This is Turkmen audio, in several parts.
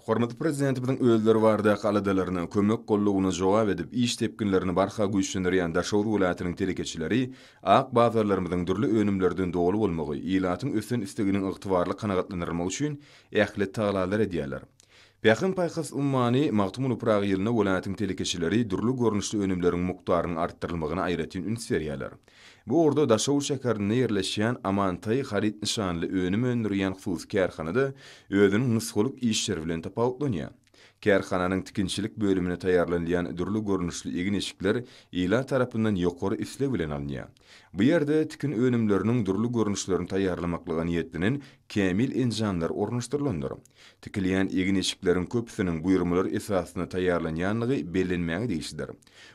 Hormatly Prezidentimiziň özleri baradaky aladalaryna, kömek gollugyna jogap edip, iş depginlerini barha güýçlendirýän Daşoguz welaýatynyň telekeçileri ak bazarlarymyzyň dürli önümlerden doly bolmagy, ilatyň ösen isleginiň ygtybarly kanagatlandyrylmagy üçin ähli tagalalar edýärler. Pähim-paýhas ummany Magtymguly Pyragy ýylynda welaýatyň telekeçileri dürli görnüşli önümleriň mukdarynyň artdyrylmagyna aýratyn üns berýärler. Bu ugurda Daşoguz şäherinde ýerleşýän Amantaý haryt nyşanly önüm öndürýän hususy kärhana-da özüniň nusgalyk işleri bilen tapawutlanýar. Kärhananyň tikinçilik bölüminde taýýarlanylýan dürli görnüşli egin-eşikler ilat tarapyndan ýokary isleg bilen alynýar. Bu ýerde tikin önümleriniň dürli görnüşlerini taýýarlamaklyga niýetlenen kämil enjamlar ornaşdyrylandyr. Tikilýän egin-eşikleriň köpüsiniň buýurmalar esasynda taýýarlanýandygy bellenmäge degişlidir.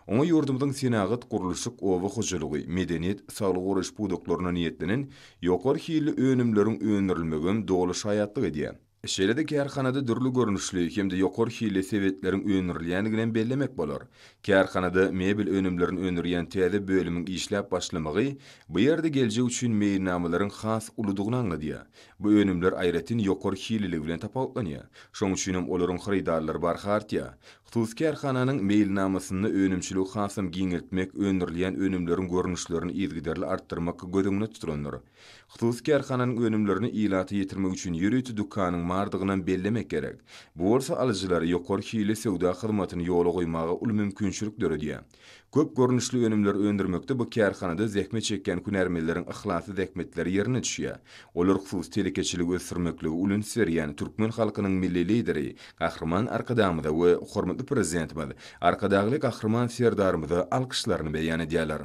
Oňa ýurdumyzyň senagat, gurluşyk, oba hojalygy, medeniýet, saglygy goraýyş pudaklaryna niýetlenen ýokary hilli önümleriň öndürilmegem doly şaýatlyk edýär. Şeýle-de kärhanada dürli görnüşli hem-de ýokary hilli sebetleriň öndürilýändiginem bellemek bolar. Kärhanada mebel önümlerini öndürýän täze bölümiň işläp başlamagy bu ýerde geljek üçin meýilnamalaryň has uludygyny aňladýar. Bu önümler aýratyn ýokary hilliligi bilen tapawutlanýar. Şonuň üçinem olaryň hyrydarlary barha artýar. Hususy kärhananyň meýilnamasynda önümçiligi hasam giňeltmek, öndürilýän önümleriň görnüşlerini yzygiderli artdyrmak göz öňünde tutulandyr. Hususy kärhananyň önümlerini ilata ýetirmek üçin ýörite dükanyň bardygynam bellemek gerek. Bu bolsa alyjylara ýokary hilli söwda hyzmatyny ýola goýmaga uly mümkinçilik döredýär. Köp görnüşli önümleri öndürmekde bu kärhanada zähmet çekýän hünärmenleriň yhlasly zähmetleri ýerine düşýär. Olar hususy telekeçiligi ösdürmeklige ulins berýän türkmen halkynyň Milli Lideri Gahryman Arkadagymyza we hormatly Prezidentimiz Arkadagly Gahryman Serdarymyza alkyşlaryny beýan edýärler.